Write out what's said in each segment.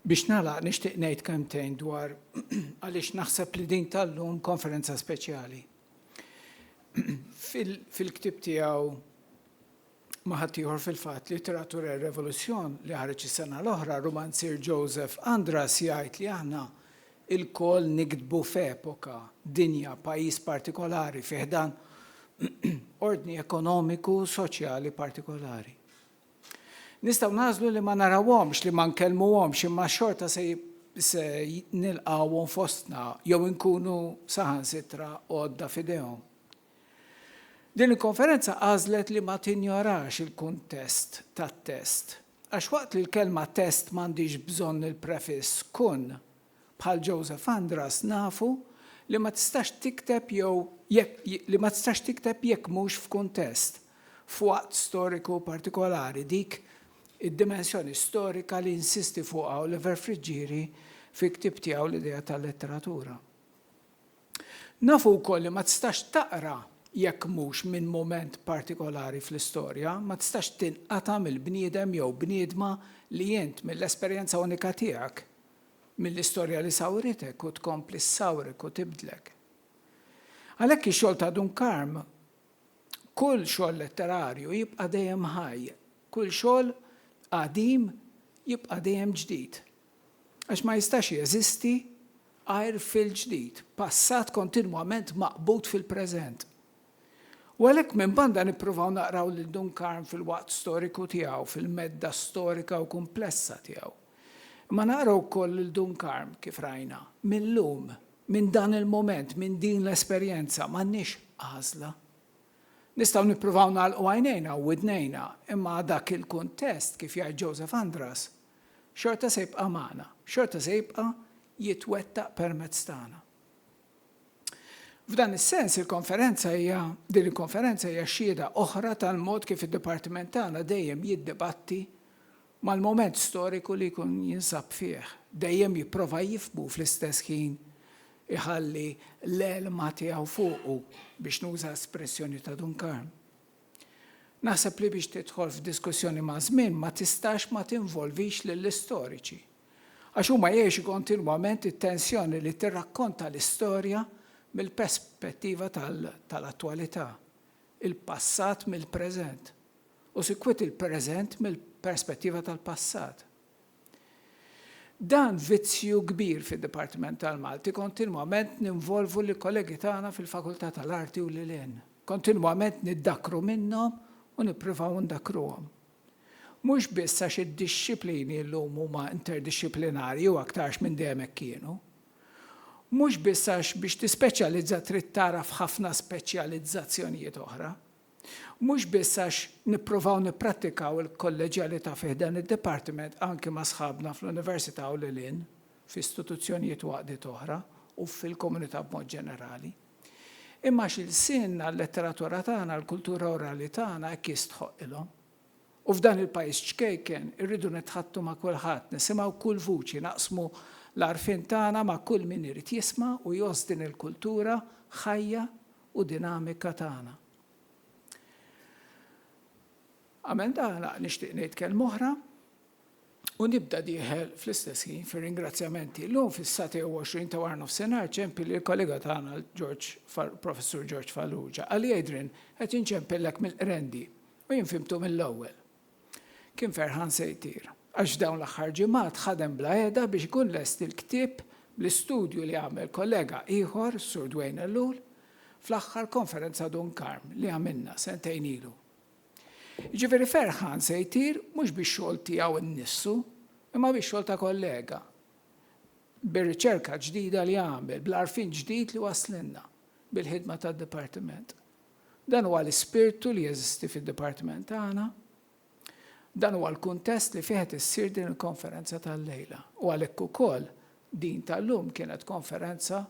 Biex nagħlaq nixtieq ngħid kemmtejn dwar għaliex naħseb li din tal-lum konferenza speċjali. Fil-ktib tiegħu ma ħaddieħor fil-fatt literatura revoluzzjon li ħareġ is-sena l-oħra, romanzier Joseph Andras jgħid li aħna Ilkoll niktbu f'epoka, dinja, pajjiż partikolari fi ħdan ordni ekonomiku u soċjali partikolari. Nistgħu nagħżlu li ma narawhomx, li ma nkellmuhomx imma xorta se se nilqgħuhom fostna jew inkunu saħansitra għodda f'idejhom. Din il-konferenza għażlet li ma tinjorax il-kuntest tat-test Għax waqt li l-kelma test m'għandhiex bżonn il-prefiss kun, bħal Joseph Andras nafu li ma tistax tikteb jew li ma tistax tikteb jekk mhux f'kuntest, f'waqt storiku partikolari, dik id-dimensjoni storika li jinsisti fuqha Oliver Friggieri fi ktieb tiegħu L-Idea tal-Letteratura. Nafu wkoll li ma tistax taqra jekk mhux minn mument partikolari fl-istorja, ma tistax tinqata' mill-bniedem jew bniedma li int, mill-esperjenza unika tiegħek, mill-istorja li sawritek u tkompli ssawrek u tibdlek. Għalhekk ix-xogħol ta' Dun Karm, kull xogħol letterarju jibqa' dejjem ħaj, kull xogħol qadim jibqa' dejjem ġdid. Għax ma jistax jeżisti għajr fil-ġdid, passat kontinwament maqbud fil-preżent. U għalhekk minn banda nippruvaw naqraw lil Dun Karm fil-waqt storiku tiegħu, fil-medda storika u kumplessa tiegħu. Imma naqraw ukoll lil Dun Karm, kif rajna, mil-lum, minn dan il-mument, minn din l-esperjenza. M'għandniex għażla. Nistgħu nippruvaw nagħlqu għajnejna u widnejna, imma dak il-kuntest, kif jgħid Joseph Andras, Xorta se jibqa' magħna, xorta se jibqa' jitwettaq permezz tagħna. F'dan is-sens, il-konferenza hija, din il-konferenza hija xhieda oħra tal-mod kif id-dipartiment tagħna dejjem jiddibatti mal-mument storiku li jkun jinsab fih, dejjem jipprova jifhmu u fl-istess ħin iħalli l-għelma tiegħu fuqu, biex nuża espressjoni ta' Dun Karm. Naħseb li biex tidħol f'diskussjoni maż-żmien ma tistax ma tinvolvix lill-istoriċi. Għax huma jgħixu kontinwament it-tensjoni li tirrakkonta l-istorja mill-perspettiva tal-attwalità, il-passat mill-preżent, u sikwit il-preżent mill-perspettiva tal-passat. Dan vizzju kbir fid-Dipartiment tal-Malti, kontinwament ninvolvu lill-kollegi tagħna fil-Fakultà tal-Arti u lil hinn. Kontinwament niddakkru minnhom u nippruvaw ndakkruhom. Mhux biss għax id-dixxiplini llum huma interdixxiplinarji u aktarx minn dejjem hekk kienu. Mhux biss għax biex tispeċjalizza trid tagħraf ħafna speċjalizzazzjonijiet oħra. Mhux biss għax nipprovaw nipprattikaw il-kolleġjalità fi ħdan id-Dipartiment anki ma' sħabna fl-Università u lil hinn, f'istituzzjonijiet u għaqdiet oħra, u fil-komunità b'mod ġenerali, imma għax ilsienna, l-letteratura tagħna, l-kultura orali tagħna hekk jistħoqqilhom. U f'dan il-pajjiż ċkejken irridu nitħaddtu ma' kulħadd, nisimgħu kull vuċi, naqsmu l-għarfien tagħna ma' kull min irid jisma' u jgħożż din il-kultura ħajja u dinamika tagħna. Qabel nagħlaq nixtieq ngħid kelma oħra u nibda dieħel fl-istess ħin fir-ringrazzjamenti. Llum fis-satej 20 ta' wara nofsinhar ċempi lil kollega tagħna Professur George Falluġa. Għalli Adrian qed inċempillek mill-qrendi u jien fimtu mill-ewwel. Kien ferħan se jtir, għax f'dawn l-aħħar ġimgħat ħadem bla heda biex ikun lest il-ktieb bl-istudju li għamel kollega ieħor, Sur Dwayne Ellul, fl-aħħar Konferenza Dun Karm li għamilna sentejn ilu. Jiġifieri ferħan se jtir mhux bix-xogħol tiegħu nnissu, imma bix-xogħol ta' kollega, bir-riċerka ġdida li għamel, bl-għarfien ġdid li waslilna, bil-ħidma tad-Dipartiment. Dan huwa l-ispirtu li jeżisti fid-dipartiment tagħna. Dan huwa l-kuntest li fih qed issir din il-konferenza tal-lejla u għalhekk ukoll din tal-lum kienet konferenza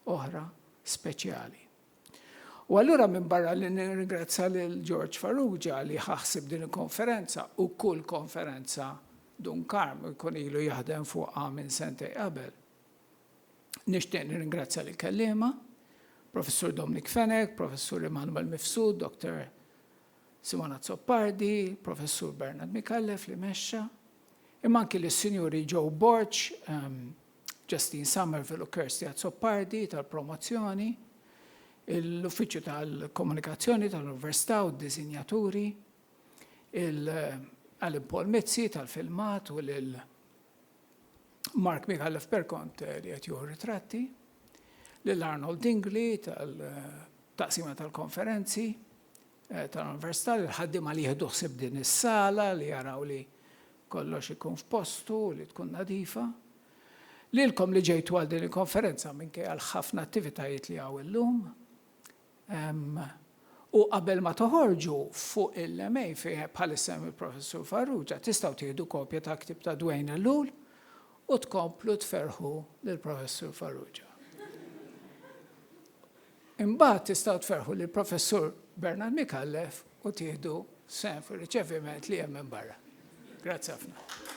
oħra speċjali. U allura minbarra li nirringrazzja lil George Farrugia li ħa ħsieb din il-konferenza u kull konferenza Dun Karm jkun ilu jaħdem fuqha minn sentejn qabel, Nixtieq nirringrazzja lill-kelliema, Professur Dominic Fenech, Professur Emmanuel Mifsud, Dr. Simon Azzopardi, Professur Bernard Micallef li mexxa, imma anki lis-Sinjuri Joe Borg, ehm, Justine Somerville u Kirsty Azzopardi tal-promozzjoni, l-Uffiċċju tal-Komunikazzjoni tal-Università u d-Disinjaturi, il-Alan Paul Mizzi tal-filmat u lil Mark Micallef Perkont eh, li qed juhu ritratti, lil Arnold Dingli tal-taqsima tal-konferenzi eh, tal-Università li l-ħaddiema li jieħdu ħsib din is-sala li jaraw li kollox ikun f'postu li tkun nadifa. Lilkom li ġejtu għal din il-konferenza minkejja għal ħafna attivitajiet li għaw illum, U qabel ma toħorġu fuq il-MA fi bħalissa hemm il-Professur Farrugia, tistgħu tieħdu kopja tal-ktieb ta' Dwayne Ellul u tkomplu tferrħu lill-Professur Farrugia. Imbagħad tistgħu tferrħu lill-Professur Bernard Micallef u tieħdu sehem fir-riċeviment li hemm minn barra. Grazzi ħafna.